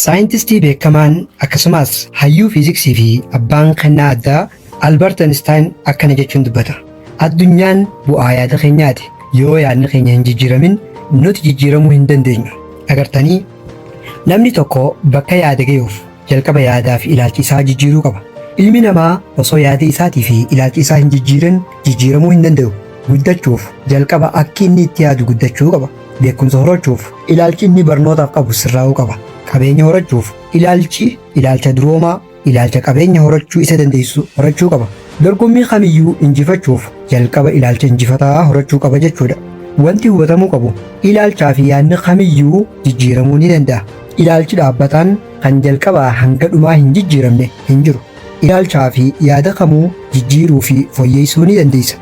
Saayintistii beekamaan akkasumaas hayyuu fiiziksii fi abbaan kennaa addaa Albert Einstein akkana jechuun dubbata, Addunyaan bu'aa yaada keenyaati. Yoo yaadni keenya hin jijjiiramin nuti jijjiiramuu hin dandeenyu. Agartanii? Namni tokko bakka yaade gayuuf jalqaba yaadaa fi ilaalcha isaa jijjiiruu qaba. Ilmi namaa osoo yaada isaatii fi ilaalcha isaa hin jijjiirin jijjiiramuu hin danda'u. Guddachuuf jalqaba akki inni itti yaadu guddachuu qaba. Beekumsa horachuuf ilaalchi inni barnootaaf qabu sirraa'uu qaba. Qabeenya horachuuf ilaalchi ilaalcha duroomaa, ilaalcha qabeenya horachuu isa dandeessisu horachuu qaba. Dorgommii kamiyyuu injifachuuf jalqaba ilaalcha injifataa horachuu qaba jechuudha. Wanti hubatamuu qabu ilaalchaa fi yaadni kamiyyuu jijjiiramuu ni danda'a. Ilaalchi dhaabbataan kan jalqabaa hanga dhumaa hin jijjiiramne hin jiru. Ilaalchaa fi yaada kamuu jijjiiruu fi foyyeessuu ni dandeessa.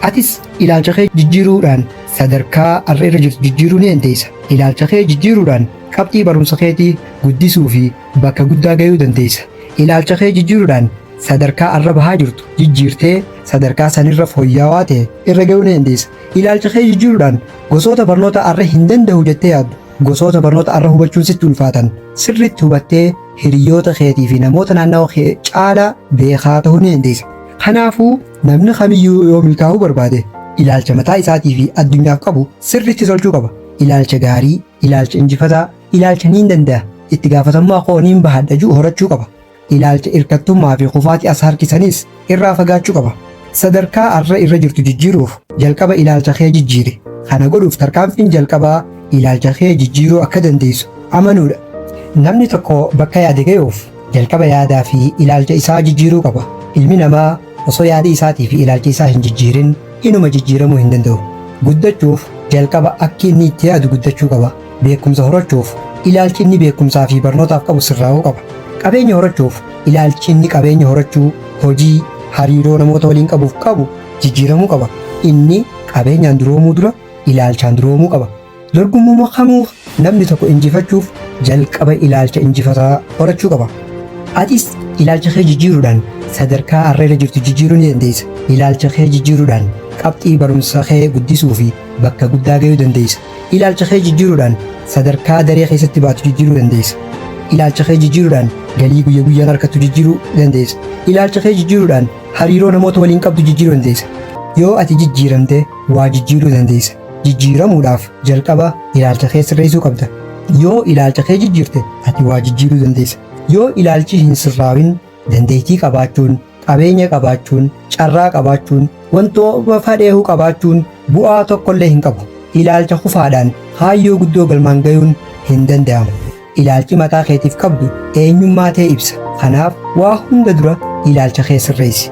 Atis ilaalcha kee jijjiiruudhaan sadarkaa arra irra jirtu jijjiiruu ni dandeessa. Ilaalcha kee jijjiiruudhaan qabxii barumsa keetii guddisuu fi bakka guddaa gayuu dandeessa. Ilaalcha kee jijjiiruudhaan sadarkaa arra bahaa jirtu jijjiirtee sadarkaa san irra foyyawaa ta'e irra gayuu ni dandeessa. Ilaalcha kee jijjiiruudhaan gosoota barnoota arra hin dandahu jettee yaaddu Gosoota barnoota arra hubachuun sitti ulfaatan sirriitti hubattee hiriyyoota keetii fi namoota naannawa kee caalaa beekaa ta'uu ni dandeessa. Kanaafuu, namni kamiyyuu yoo milkaa'uu barbaade ilaalcha mataa isaatii fi addunyaaf qabu sirriitti tolchuu qaba. Ilaalcha gaarii, ilaalcha injifataa, ilaalcha niin danda'a, itti gaafatamummaa koo niin bahadha jedhu horachuu qaba. Ilaalcha irkattummaa fi kufaatii as harkisaniis irraa fagaachuu qaba. Sadarkaa har'a irra jirtu jijjiiruuf jalqaba ilaalcha kee jijjiiri. Kana godhuuf tarkaanfiin jalqabaa ilaalcha kee jijjiiruu akka dandeessu amanuudha. Namni tokko bakka yaade gayuuf jalqaba yaadaa fi ilaalcha isaa jijjiiruu qaba. Ilmi namaa Osoo yaadi isaatii fi ilaalchi isaa hin jijjiirin inuma jijjiiramuu hin danda'u. Guddachuuf jalqaba akki inni itti yaadu guddachuu qaba. Beekumsa horachuuf ilaalchi inni beekumsaa fi barnootaaf qabu sirraa'uu qaba. Qabeenya horachuuf ilaalchi inni qabeenya horachuu, hojii, hariiroo namoota waliin qabuuf qabu jijjiiramuu qaba. Inni qabeenyaan duroomuu dura ilaalchaan duroomuu qaba. Dorgommuma kamuu namni tokko injifachuuf jalqaba ilaalcha injifataa horachuu qaba. Atis ilaalcha kee jijjiiruudhaan sadarkaa har'a irra jirtu jijjiiruu ni dandeessa. Ilaalcha kee jijjiiruudhaan qabxii barumsa kee guddisuu fi bakka guddaa gahuu dandeessa. Ilaalcha kee jijjiiruudhaan sadarkaa daree keessatti baatu jijjiiruu dandeessa. Ilaalcha kee jijjiiruudhaan galii guyya guyyaan argattu jijjiiruu dandeessa. Ilaalcha kee jijjiiruudhaan hariiroo namoota waliin qabdu jijjiiruu dandeessa. Yoo ati jijjiiramte waa jijjiiruu dandeessa. Jijjiiramuudhaaf jalqaba ilaalcha kee sirreessuu qabda. Yoo ilaalcha kee jijjiirte ati waa jijjiiruu dandeessa. Yoo ilaalchi hin sirraawin dandeettii qabaachuun, qabeenya qabaachuun, carraa qabaachuun, wantoota fadheehu qabaachuun bu'aa tokkollee hin qabu. Ilaalcha kufaadhaan kaayyoo guddoo galmaan gayuun hin danda'amu. Ilaalchi mataa keetiif qabdu eenyummaa tee ibsa. Kanaaf waa hunda dura ilaalcha kee sirreessi.